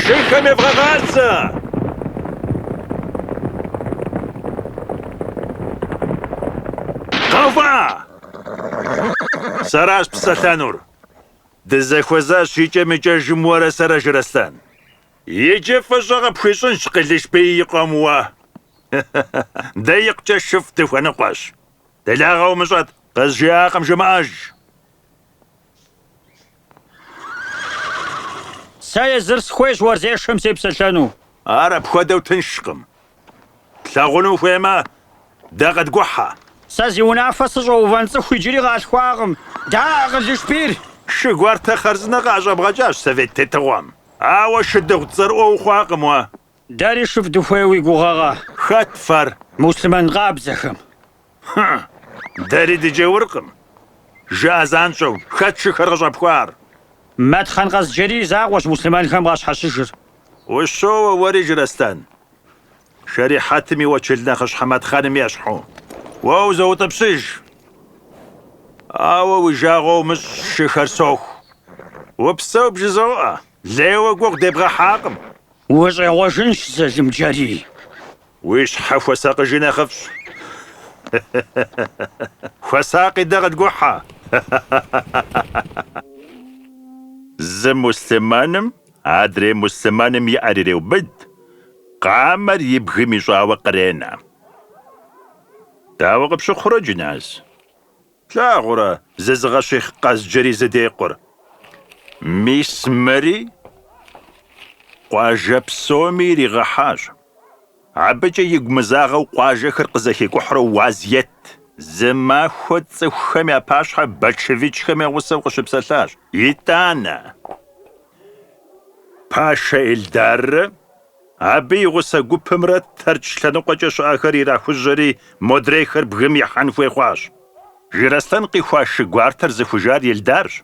Шыхэм евгъэгъазэ! Къэува! Сэращ псэлъэнур. Дызэхуэзащ икӏэм-икӏэжым уэрэ сэрэ, Жыраслъэн. Иджы фӏыщӏэ къыпхуищӏынщ Къылышбий и къуэм уэ. Дэ икъукӏэ шыфӏ дыхуэныкъуэщ. Делагъэ умыщӏэт, къызжиӏакъым жымыӏэж. Сэ езыр сыхуейщ уэрзешэм сепсэлъэну. Ар апхуэдэу тыншкъым. Плъагъуну ухуеймэ, дэ къыдгухьэ. Сэ зи унафэ сыщӏэувэн цӏыху иджыри къалъхуакъым. Да, Къылышбийр! Шы гуартэ хъарзынэ къыӏэщӏэбгъэкӏащ совет тетыгъуэм. Ауэ шыдыгъу цӏэрыӏуэ ухъуакъым уэ. Дэри шыфӏ дыхуей уи гугъэкъэ. Хэт фэр? Муслъымэн къабзэхэм. Хы, дэри дыджауркъым, жыӏэ занщӏэу, хэт шыхэр къыщӏэпхуар? Мэтхъэн Къэзджэрий закъуэщ муслъымэнхэм къащхьэщыжыр. Ущоуэ уэри, Жыраслъэн. Шэрихьэтым и уэчыл нэхъыщхьэ Мэтхъэным ещхьу, уэ узоутӏыпщыж. Ауэ уи жагъуэ умыщӏ, шыхэр соху. Упсэу бжызоӏэ, лейуэ гугъу дебгъэхьакъым. Ущӏегъуэжынщ Залымджэрий. Уи щхьэ хуэсакъыжи нэхъыфӏщ. Хуэсакъи дэ къыдгухьэ. Зы муслъымэным адрей муслъымэным и ӏэр иреубыд, къамэр и бгым ищӏауэ къренэ. Дауэ къыпщыхъурэ, Джыназ? Плъагъурэ, зызыгъэщихъ Къэзджэрий зыдекъур. Мис мыри къуажэ псоми иригъэхьащ. Абыкӏэ игу мызагъэу къуажэхэр къызэхикӏухьурэ уаз ет. Зы махуэ цӏыхухэм я пащхьэ большевикхэм я гъусэу къыщыпсэлъащ. Итӏанэ, Пашэ Эльдаррэ Абы и гъусэ гупымрэ Тэрч лъэныкъуэкӏэ щыӏэхэр ирахужьэри, модрейхэр бгым ихьэн хуей хъуащ. Жыраслъэн къихуа шы гуартэр зыхужар Елдарщ.